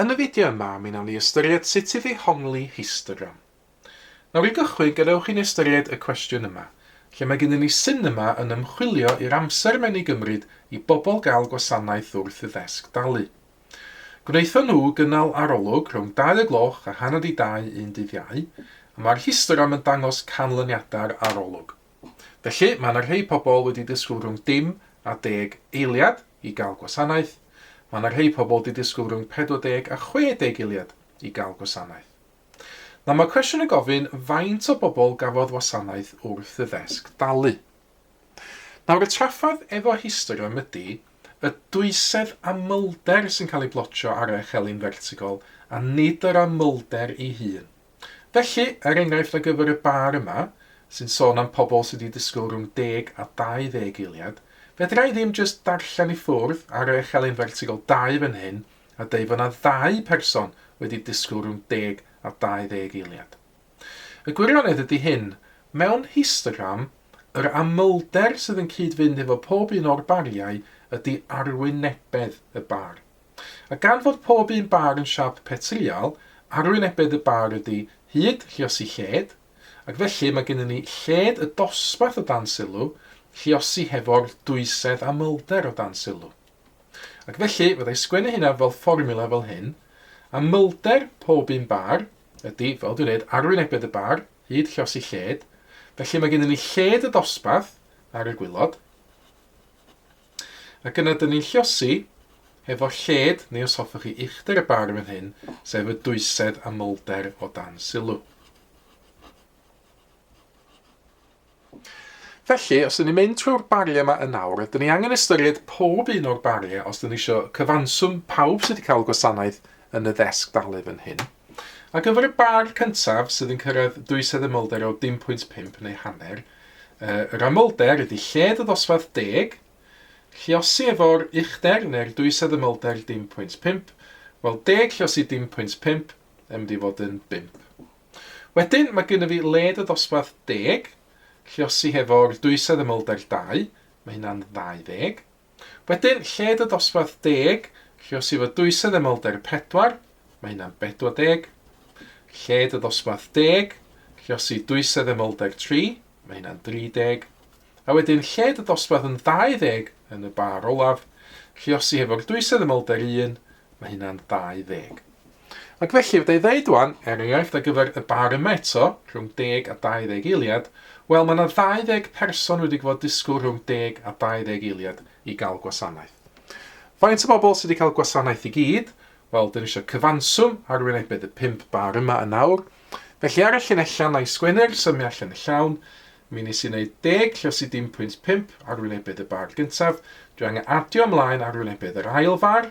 Yn y fideo yma mi nawn ni ystyried sut i ddehongli histogram. Nawr i gychwyn gadewch i ni ystyried y cwestiwn yma, lle mae gennyn ni sinema yn ymchwilio i'r amser mae'n ei gymryd i bobl gael gwasanaeth wrth i ddesg dalu. Gwnaethon nhw gynnal arolwg rhwng dau o gloch a hanner 'di dau un dydd Iau, a mae'r histogram yn dangos canlyniadau'r arolwg. Felly, mae yna rhei pobl wedi disgwyl rhwng dim a deg eiliad i gael gwasanaeth, mae yna rhei pobl wedi disgwyl rhwng 40 a 60 eiliad i gael gwasanaeth. Nawr, mae cwestiwn yn gofyn faint o bobl gafodd wasanaeth wrth y ddesg dalu. Nawr, y trafferth efo histerwm ydy y dwysedd amlder sy'n cael ei blotio ar eich elin fertigol a nid yr amlder ei hun. Felly, er enghraifft ar gyfer y bar yma, sy'n sôn am pobl sydd wedi disgwyl rhwng deg a dau ddeg eiliad, fedra i ddim jyst darllen i ffwrdd a rhoi echelin fertigl dau fan hyn a deud fod 'na ddau person wedi disgwyl rhwng deg a dau ddeg eiliad. Y gwirionedd ydy hyn, mewn histogram, yr amlder sydd yn cyd-fynd hefo pob un o'r bariau ydy arwynebedd y bar. A gan fod pob un bar yn siâp petrïal, arwynebedd y bar ydy hyd lluosi lled, ac felly mae gennyn ni lled y dosbarth o dan sylw, lluosi hefo'r dwysedd amlder o dan sylw. Ac felly, fydda i sgwennu hynna fel fformiwla fel hyn, amlder pob un bar ydy, fel dwi'n dweud, arwynebedd y bar hyd lluosi lled, felly mae gennyn ni lled y dosbarth ar y gwilod, Ac yna dyn ni'n lliosi, hefo lled, neu os hoffech chi, uchder y bar fan hyn, sef y dwysedd a molder o dan sylw. Felly, os dyn ni'n mynd trwy'r bariau yma yn awr, dyn ni angen ystyried pob un o'r bariau os dyn ni eisiau cyfanswm pawb sydd wedi cael gwasanaeth yn y ddesg dalu fan hyn. Ar gyfer y bar cyntaf sydd yn cyrraedd dwysedd y molder o 10.5 neu hanner, Yr amlder ydy lled y ddosbarth deg, lluosi efo'r uchder neu'r dwysedd ymlder dim pwynt pump, wel deg lluosi dim pwynt pump yn mynd i fod yn bump. Wedyn mae gynna fi led y ddosbarth deg, lluosi hefo'r dwysedd ymlder dau, mae hynna'n ddau ddeg. Wedyn, lled y dosbarth deg, lle os yw y dwysedd emolder 4, mae hynna'n 40. Lled y dosbarth deg, lle os yw dwysedd emolder 3, mae hynna'n 30. A wedyn, lled y dosbarth yn 20 yn y bar olaf, lle os yw hefo'r dwysedd emolder 1, mae hynna'n 20. Ac felly, fydda i ddeud wan, er enghraifft ar gyfer y bar yma eto, rhwng deg a dau ddeg eiliad, wel, mae 'na ddau ddeg person wedi gwfod disgwyl rhwng deg a dau ddeg eiliad i gael gwasanaeth. Faint o bobl sydd wedi cael gwasanaeth i gyd? Wel, dyn ni eisiau cyfanswm ar wynebedd y pump bar yma yn awr. Felly ar y llinellau na i sgwennu'r symiau allan yn llawn, mi nes i wneud deg lle os i dim pwynt pump ar wynebedd y bar gyntaf, dwi angen adio ymlaen ar wynebedd yr ail far,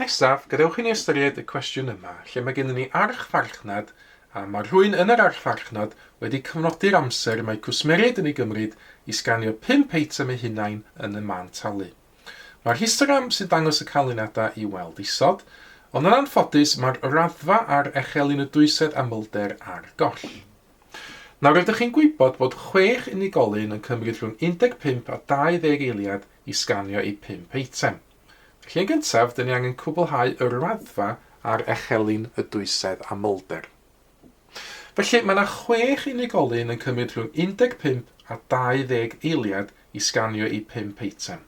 Nesaf, gadewch i ni ystyried y cwestiwn yma, lle mae gennym ni archfarchnad a mae rhywun yn yr archfarchnad wedi cyfnodi'r amser y mae cwsmeriaid yn ei gymryd i sganio pump eitem eu hunain yn y man talu. Mae'r histogram sy'n dangos y canlyniadau i'w weld isod, ond yn anffodus mae'r raddfa ar echelin y dwysedd amlder ar goll. Nawr rydych chi'n gwybod bod chwech unigolyn yn cymryd rhwng 15 a 20 eiliad i sganio eu pump eitem. Felly yn gyntaf, dyn ni angen cwblhau y raddfa ar echelin y dwysedd amlder. Felly mae yna chwech unigolyn yn cymryd rhwng 15 a 20 eiliad i sganio eu pump eitem.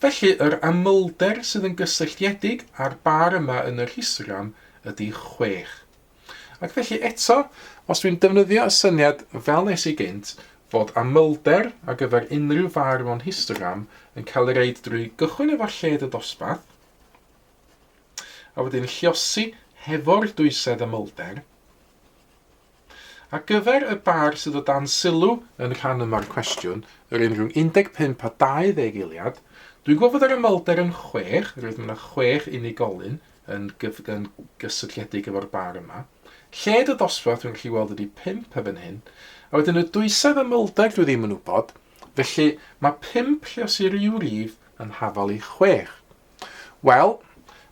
Felly yr amlder sydd yn gysylltiedig â'r bar yma yn yr histogram ydy chwech. Ac felly eto, os dwi'n defnyddio y syniad fel nes i gynt, fod amlder ar gyfer unrhyw far mewn histogram yn cael ei reid drwy gychwyn efo lled y dosbarth, a wedyn lliosi hefo'r dwysedd amlder, Ar gyfer y bar sydd o dan sylw yn rhan yma'r cwestiwn, yr un rhwng 15 a 20 eiliad, dwi'n gwybod fod yr amlder yn 6, roedd yna 6 unigolyn, yn yn gysylltiedig efo'r bar yma. Lled y dosbarth dwi'n gallu weld ydi pump erbyn hyn. A wedyn y dwysedd a mylder dwi ddim yn wybod, felly mae pump lle os i ryw rif yn hafal i chwech. Wel,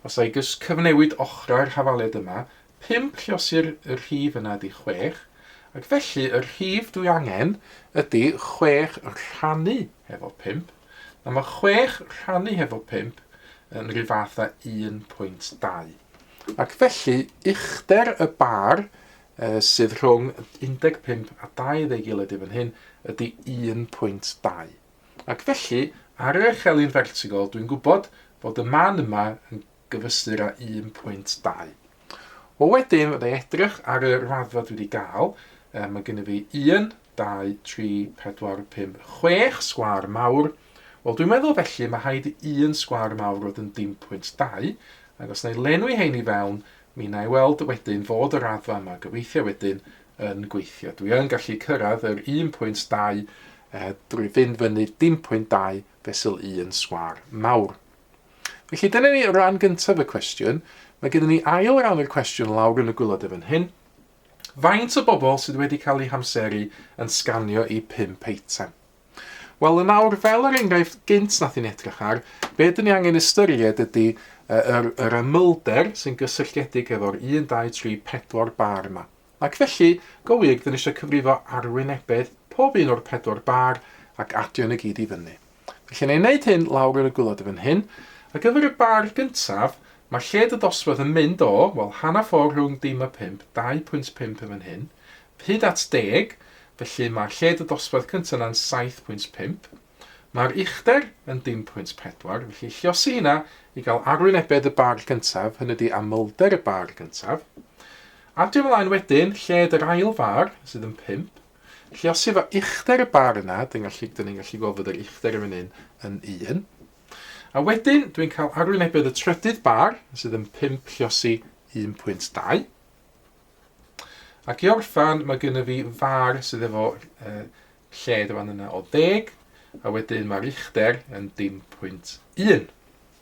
os ai gys cyfnewid ochrau'r hafaliad yma, Pump llosir y rhif yna ydi chwech, ac felly y rhif dwi angen ydi chwech rhannu hefo pump. Nawr mae chwech rhannu hefo pump yn rhyw fath â 1.2. Ac felly, uchder y bar uh, sydd rhwng 15 a 20 ei gilydd i fan hyn ydy 1.2. Ac felly, ar yr echelin fertigol, dwi'n gwybod fod y man yma yn gyfystyr â 1.2. Wel wedyn fydda i edrych ar y raddfa dwi wedi gael, um, mae gennym fi 1, 2, 3, 4, 5, 6 sgwar mawr, wel dwi'n meddwl felly mae rhaid i un sgwar mawr fod yn 1.2, ac os na i lenwi hein i fewn, mi na i weld wedyn fod y raddfa yma gobeithio wedyn yn gweithio. Dwi yn gallu cyrraedd yr 1.2 eh, drwy fynd fyny 1.2 fesul 1 sgwar mawr. Felly dyna ni ran gyntaf y cwestiwn. Mae gennym ni ail ran o'r cwestiwn lawr yn y gwylod efo'n hyn. Faint o bobl sydd wedi cael eu hamseru yn sganio i pump eitem? Wel, yn awr, fel yr enghraifft gynt nath i'n edrych ar, be dyn ni angen ystyried ydy uh, yr, yr ymylder sy'n gysylltiedig efo'r 1, 2, 3, 4 bar yma. Ac felly, go wir, dyn ni eisiau cyfrifo arwynebedd pob un o'r pedwar bar ac adio yn y gyd i fyny. Felly neu wneud hyn lawr yn y gwilod fan hyn. Ar gyfer y bar gyntaf, mae lled y dosbarth yn mynd o, wel, hanner ffordd rhwng dim a phump, 2.5 yn fan hyn, hyd at deg, felly mae lled y dosbarth cyntaf yna'n 7.5. Mae'r uchder yn dim pwynt pedwar, felly lliosi hynna i gael arwynebedd y bar gyntaf, hynny ydi amlder y bar gyntaf. Adio ymlaen wedyn, lled yr ail far, sydd yn pump, Felly os efo uchder y bar yna, dyn gallu, dyn ni'n gallu gweld fod yr uchder yn fan hyn yn 1. A wedyn, dwi'n cael arwynebedd y trydydd bar, sydd yn 5 lliosi 1.2. Ac i orffan, mae gynnu fi far sydd efo uh, lled y fan yna o 10, a wedyn mae'r uchder yn dim pwynt 1.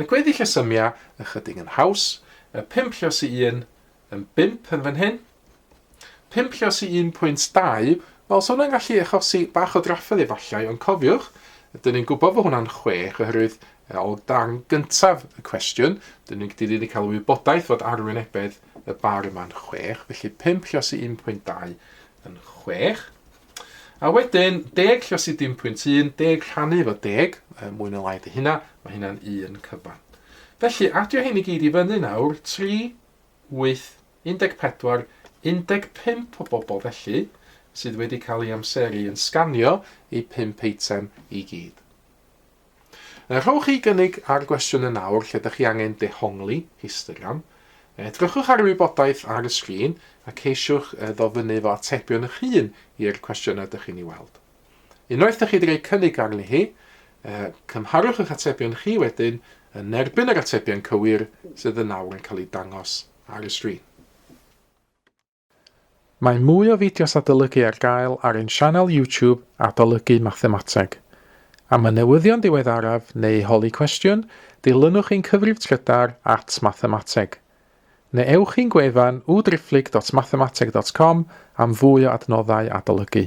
Y gweddill y symia ychydig yn haws, y pump llos i un, yn bump yn fan hyn, pump llos i 1.2, wel, so hwnna'n gallu achosi bach o drafferth efallai, ond cofiwch, ydyn ni'n gwybod fod hwnna'n chwech, oherwydd e, o dan gyntaf y cwestiwn, dyn ni'n dyn ni wedi cael wybodaeth fod arwynebedd y bar yma'n chwech, felly pump llos i 1.2 yn chwech. A wedyn, deg lle os i dim pwynt un, deg rhannu efo deg, e, mwy na lai dy hynna, mae hynna'n un cyfan. Felly, adio hyn i gyd i fyny nawr, 3, 8, 14, 15 o bobl felly, sydd wedi cael ei amseru yn sganio eu pump eitem i gyd. Er rhowch chi gynnig ar gwestiynau nawr lle dych chi angen dehongli, histogram, edrychwch ar y wybodaeth ar y sgrin a ceisiwch ddofynnu efo atebion eich hun i'r cwestiynau dych chi'n ei weld. Unwaith dych chi wedi rhoi cynnig arni hi, cymharwch eich atebion chi wedyn yn erbyn yr atebion cywir sydd yn nawr yn cael eu dangos ar y sgrin. Mae mwy o fideos adolygu ar gael ar ein sianel YouTube Adolygu Mathemateg. Am y newyddion diweddaraf neu holi cwestiwn, dilynwch ein cyfrif trydar at Mathemateg. Neu ewch i'n gwefan www.driphlyg.mathemateg.com am fwy o adnoddau adolygu.